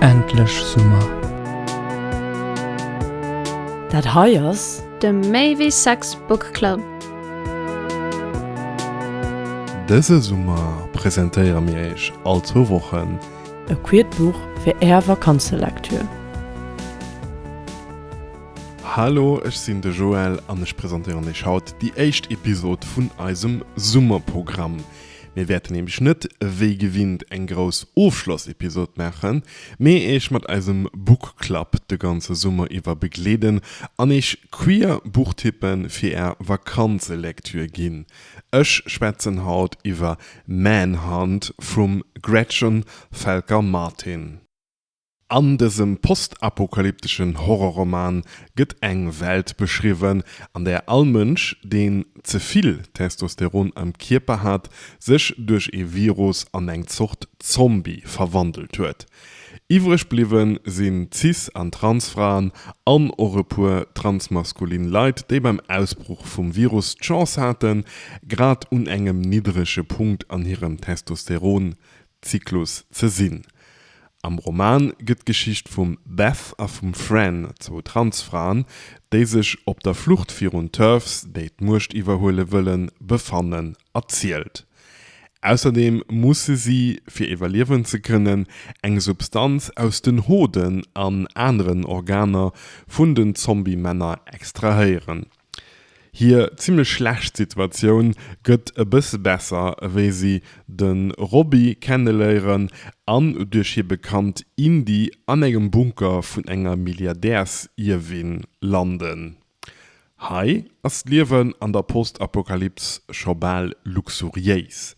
Endlech Summer! Dat hei ass. De Maybe Sex Book Club. Dëse Summer presentéiere mir Iech all zwou Wochen. E quiert Buch fir Är Vakanzelektür. Hallo, ech sinn de Joël an ech presentéieren iech haut déi éischt Episod vun eisem Summerprogramm. Mir wäerten nämlech net wéi gewinnt eng grouss Ofschlossepisod maachen, mee iech mat eisem Book Club de ganze Summer iwwer begleeden an iech queer Buchtippe fir är Vakanzelektür ginn. Ech schwätzen haut iwwer Manhunt vum Gretchen Felker-Martin. An dësem postapokalypteschen Horrorroman gëtt eng Welt beschriwwen, an där all Mënsch, deen ze vill Testosteron am Kierper hat, sech duerch ee Virus an eng Zort Zombie verwandelt huet. Iwwreg bliwwe sinn cis an trans Fraen an och e puer transmaskulin Leit, déi beim Ausbruch vum Virus d'Chance haten, grad un engem niddrege Punkt an hirem Testosteron Zyklus ze sinn. Am Roman gëtt d'Geschicht vum Beth a vum Fran, zwou Transfraen, déi sech op der Flucht virun TERFs, déi d'Muecht iwwerhuele wëllen, befannen, erzielt. Ausserdeem musse si, fir iwwerliewen ze kënnen, eng Substanz aus den Hoden an aneren Organer vun den Zombie-Männer extrahéieren. Hir zimlech schlecht Situatioun gëtt e bësse besser wéi si de Robby kenneléieren an duerch hir Bekannt Indy an engem Bunker vun enger Milliardärsierwin landen. Hei ass d'Liewen an der Post-Apokalyps scho bal luxuriéis.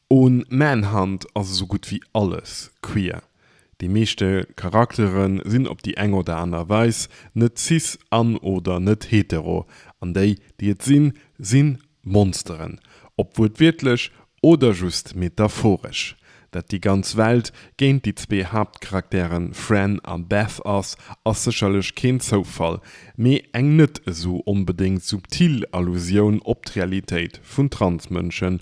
Un Manhunt ass esou gutt wéi alles queer. Déi meeschte Charaktere sinn op déi eng oder aner Weis net cis an oder net hetero, an déi, déi et sinn, si Monsteren, ob wuertwiertlech oder just metaphoresch. Dat déi ganz Welt géint déi zwee Haaptcharaktere Fran a Beth ass, ass sécherlech keen Zoufall, mee eng net esou onbedéngt subtil Allusioun op d'Realitéit vun Transmënschen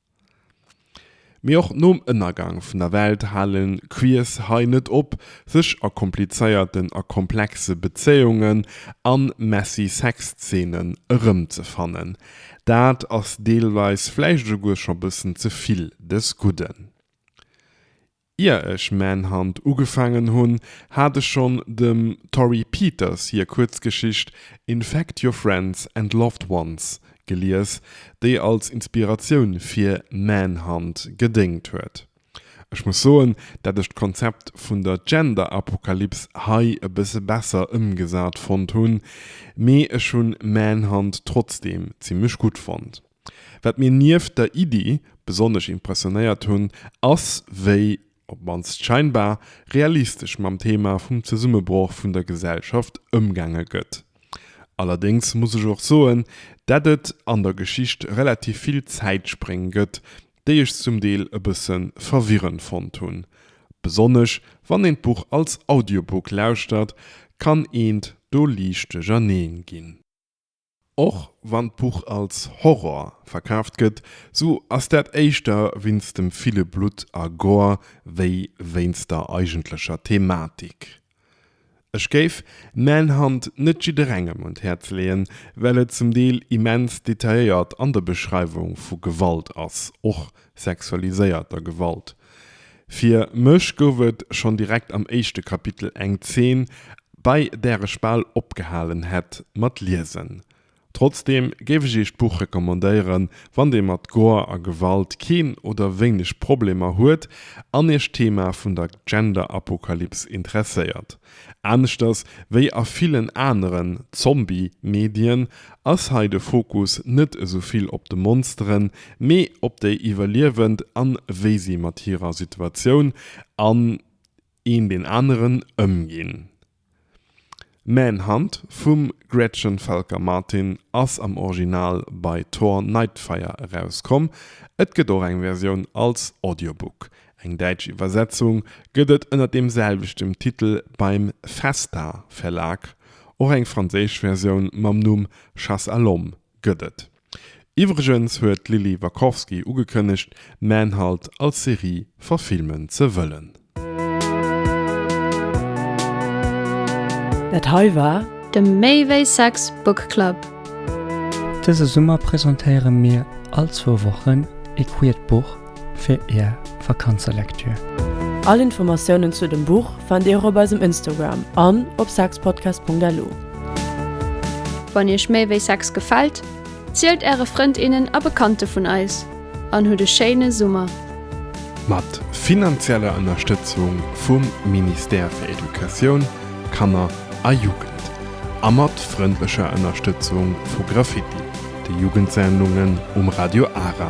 Mee och nom Ënnergang vun der Welt hale Queers hei net op, sech a komplizéierten a komplexe Bezéiungen an messy Sexzeenen erëmzefannen. Dat ass deelweis vläicht esouguer scho bëssen ze vill des Gudden. Ier ech Manhunt ugefaangen hunn, hat ech schonn dem Torrey Peters hir Kuerzgeschicht Infect Your Friends and Loved Ones gelies, déi als Inspiratioun fir Manhunt gedéngt huet. Ech muss soen, dat ech d'Konzept vun der Gender-Apokalyps hei e bësse besser ëmgesat fonnt hunn, mee ech hunn Manhunt trotzdeem zimmlech gutt fonnt. Wat mir nieft der Iddi besonnesch impressionéiert hunn, ass wéi, op d'mannst scheinbar, realistesch mam Thema vum Zesummebroch vun der Gesellschaft ëmgaange gëtt. Allerdéngs muss ech och soen, dat et an der Geschicht relativ vill Zäitspréng gëtt, déi ech zum Deel e bësse verwirrend fonnt hunn. Besonnesch wann een d'Buch als Audiobook lauschtert, kann eent do liicht duercherneen ginn. Och wann d'Buch als Horror verkaaft gëtt, sou ass dat éischter wéinst dem ville Blutt a Gore wéi wéinst der eigentlecher Thematik. Ech géif Manhunt net jidderengem un d'Häerz leeën, well et zum Deel immens detailléiert an der Beschreiwung vu Gewalt ass, och sexualiséierter Gewalt. Fir mech gouf et schonn direkt am éischte Kapitel eng Zeen, bei där ech bal opgehalen hätt mat liesen. Trotzdeem géif ech Iech d'Buch recommandéieren, wann Dir mat Gore a Gewalt keen oder wéineg Problemer huet an Iech d'Thema vun der Gender-Apokalyps interesséiert. Aneschters wéi a villen aneren Zombie-Medien ass hei de Fokus net esou vill op de Monsteren, mee op déi Iwwerliewend an wéi si mat hirer Situatioun an een deen aneren ëmginn. Manhunt vum Gretchen Felker Martin ass am Original bei Tor Nightfire erauskomm, et gëtt och eng Versioun als Audiobook. Eng däitsch Iwwersetzung gëtt et ënner deem selwechtem Titel beim Festa Verlag. Och eng franséisch Versioun mam Numm Chasse à l'homme gëtt et. Iwwregens huet d'Lily Wackowski ugekënnegt, Manhunt als Serie verfilmen ze wëllen. Dat hei war. De Méi wéi Sex Book Club. Dëse Summer presentéiere mir all zwou Wochen ee queert Buch fir är Vakanzelektür. All Informatiounen zu dem Buch fannt dir och op eisem Instagram an op sexpodcast.lu. Wann iech méi wéi Sex gefält, zielt äre Frënd, innen a Bekannte vun eis an hutt e schéine Summer! Mat finanzieller Ënnerstëtzung vum Ministère fir Educatioun, Kanner a Jugend a mat frëndlecher Ënnerstëtzung vu Graffiti, de Jugendsendungen um Radio Ara,